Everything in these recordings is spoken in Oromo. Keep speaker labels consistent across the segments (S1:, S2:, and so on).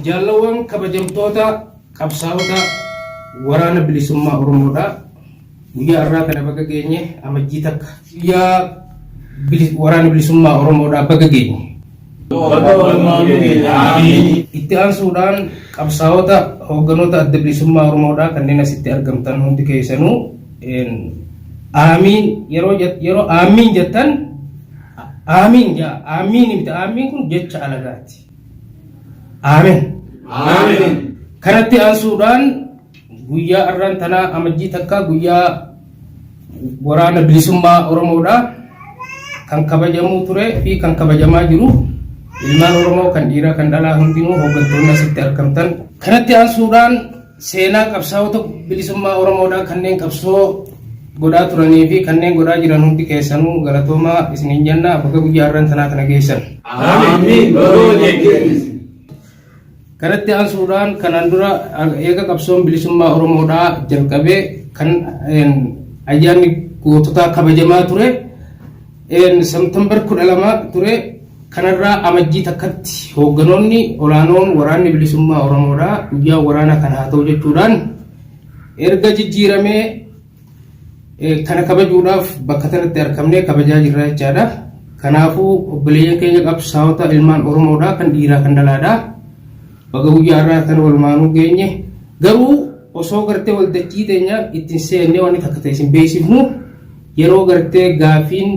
S1: Jaallawwan kabajamtoota qabsaa'ota waraana bilisummaa Oromoodhaa guyyaa har'aa kana baga geenye amajjii takka guyyaa waraana bilisummaa Oromoodhaa baga geenye. Itti aansuudhaan qabsaa'ota hoogganoota adda bilisummaa Oromoodhaa kanneen asitti argamtan hundi keessanuu aamiin yeroo yeroo aamiin jettan aamiin jaa aamiin miti aamiin kun jecha alagaati. Amen. Amen. Kanatti aansuudhaan guyyaa arraan tanaa amajjii takkaa guyyaa waraana bilisummaa Oromoodha. Kan kabajamuu ture fi kan kabajamaa jiru ilmaan Oromoo kan dhiiraa kan dhalaa hundinuu hooggantoonni asitti argamtan. Kanatti aansuudhaan Seenaa qabsaa'ota bilisummaa Oromoodhaa kanneen qabsoo godhaa turanii fi kanneen godhaa jiran hundi keessanuu galatoomaa isiniin jenna bakka guyyaa har'aan tanaa kana geessan. Aamiin. Baroo jechuun. Kanatti aansuudhaan kanaan dura eega qabsoon bilisummaa Oromoodhaa jalqabee kan ayyaanni goototaa kabajamaa ture. September 12 ture kanarraa amajjii takkatti hoogganoonni olaanoon waraanni bilisummaa Oromoodhaa guyyaa waraana kan haa ta'u jechuudhaan erga jijjiiramee kana kabajuudhaaf bakka kanatti argamnee kabajaa jirra jechaadha. Kanaafuu obboleeyyan keenya qabsaa'ota ilmaan Oromoodhaa kan dhiiraa kan dhalaadhaa baga guyyaa irraa kan walumaanuu geenye garuu osoo gartee waldachii teenya ittiin seennee waan takka ta'e isin beeksifnu Yeroo gartee gaafiin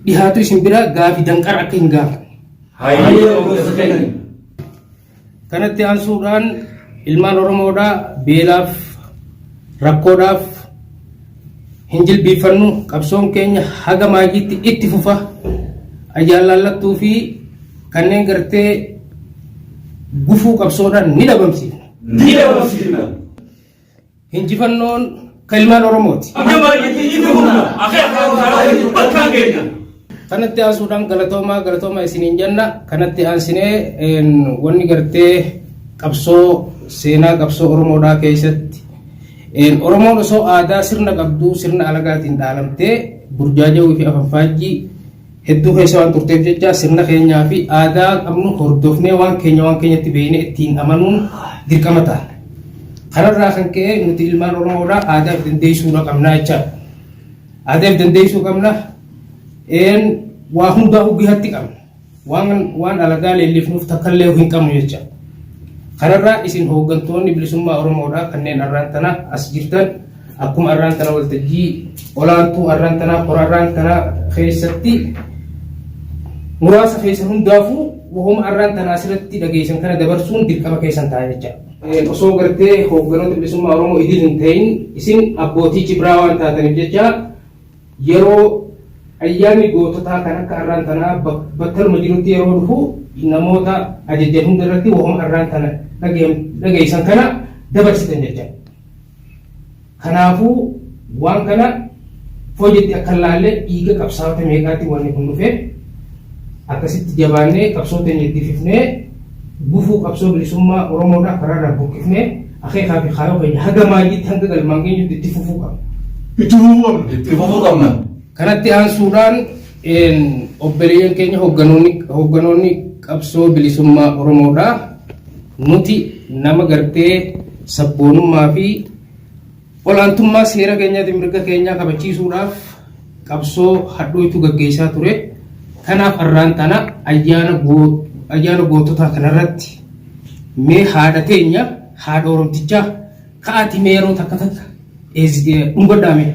S1: dhihaatu isin bira gaafi danqara akka hin gaafanne. Hayyee obboleessa keenya. Kanatti aansuudhaan ilmaan Oromoodhaa beelaaf rakkoodhaaf hin jilbiifannu qabsoon keenya haga maajiitti itti fufa ayyaalaallattuu fi kanneen gartee gufuu qabsoodhaan ni dhabamsiifna. Ni dhabamsiifna. Injifannoon kan ilmaan Oromooti. Kanatti aansuudhaan galatoomaa galatoomaa isiniin jenna. Kanatti aansinee wanni gartee qabsoo seenaa qabsoo Oromoodhaa keessatti Oromoon osoo aadaa sirna qabduu sirna alagaatiin dhaalamtee burjaajawuu fi afanfaajjii hedduu keessa waan turteef jecha sirna keenyaa fi aadaa qabnu hordofnee waan keenya waan keenyatti beeknee ittiin amanuun dirqama ta'a. Kanarraa kan ka'e nuti ilmaan Oromoodhaa aadaa of dandeessuudha qabnaa jechaadha. Aadaa of dandeessuu qabna een waa hundaa hoggeetti qabna. Waan waan alagaa leellifnuuf takkallee hin qabnu jecha. Kanarraa isin hooggantoonni bilisummaa Oromoodhaa kanneen arraan tana as jirtan Akkuma arraan tana waltajjii olaantuu arraan tanaa qora arraan tanaa keessatti muraasa keessan hundaafuu wahuma arraan tanaa asirratti dhageessan kana dabarsuun dirqama keessan ta'a jecha. Osoo gartee hoogganoota bilisummaa Oromoo idil hin ta'in isin abbootii cibraa waan taataniif jecha yeroo ayyaanni goototaa kan akka arraan tanaa battaluma jirutti yeroo dhufu namoota ajajjan hunda irratti wahuma arraan tana dhageessan kana dabarsitan jecha. Kanaafuu waan kana foojetti akka hin laalle dhiiga qabsaa'ota meeqaatiin wanni kun dhufe akkasitti jabaannee qabsoo teenya itti fifnee gufuu qabsoo bilisummaa Oromoodhaa karaarraa buqqifnee akeekaa fi kaayoo keenya haga maayyiitti hanga galmaan geenyutti itti fufuu qabna. Itti fufuu qabna. Itti fufuu qabna. Kanatti aansuudhaan Een obboleeyyan keenya hoogganoonni hoogganoonni qabsoo bilisummaa Oromoodha. Nuti nama gartee sabboonummaa fi olaantummaa seera keenyaati mirga keenyaa kabachiisuudhaaf qabsoo hadhooytu gaggeessaa ture. Kanaaf har'aan tana ayyaana goo- ayyaana goototaa kanarratti mee haadha teenya haadha Oromtichaa ka'aati mee yeroo takka takka eezi- dhungadhaa mee.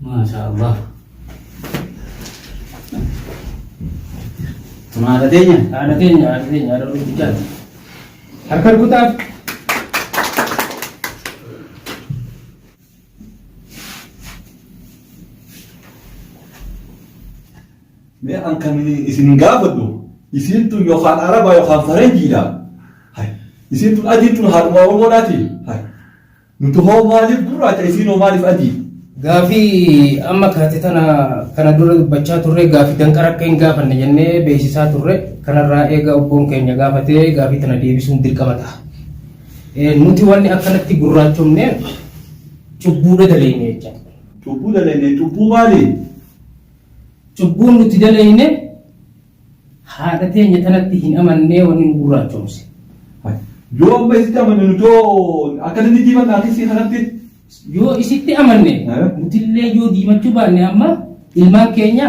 S1: Maashaa Allah.
S2: Kun haadha teenya. Haadha teenya haadha teenya
S1: haadha guddichaati. Harka rukutaaf.
S3: Mee an kan isin gaafadhu isiin tun yookaan araba yookaan faranjiidha. Isiin tun adiin tun haadhuma oromoodhaati. Nuti hoo maaliif gurraacha isiin hoo maaliif adii? Gaafii
S1: amma kaate tana kana dura dubbachaa turre gaafii danqara akka hin gaafanne jennee beeksisaa turre kanarraa eega obboon keenya gaafatee gaafii tana deebisuun dirqama ta'a. Eh, Nuti wanni akkanatti gurraachomne cubbuudha daleeyne jecha. Cubbuu daleeyne
S3: cubbuu maali?
S1: Cubbuun nuti daleeyne Haadha teenya tanatti hin amannee wanni nu gurraachoomse. Yoo
S3: amma isitti amanne nuti hoo akkamitti diimanna akkasii kanatti? Yoo isitti
S1: amanne Eh? nutillee yoo diimachuu baanne amma ilmaan keenya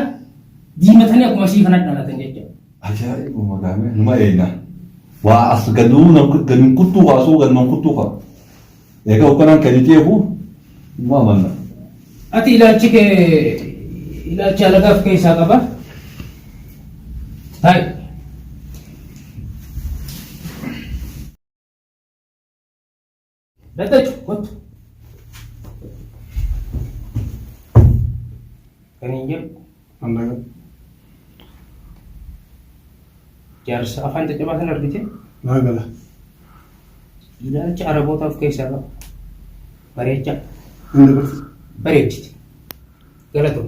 S1: diimatanii akkuma isii kana dhalatan jechuudha. Ajaa'iba maqaame
S3: numa eegna. Waa as gaduun gaduun kuttuu kaasuu gaduun kuttuu kaa. Egaa hogganaan kan itti eegu nu amanna. Ati ilaalchi
S1: kee ilaalcha alagaa of keessaa qaba. Taa'e. Daddachu kottu. Kan hin jedhu. Ammayoo. Jaarsa afaan caccabaa sana argite Maa gala. ilaalcha araboota of keessaa qaba. Bareecha Inni kun.
S4: bareechite.
S1: Galatoo.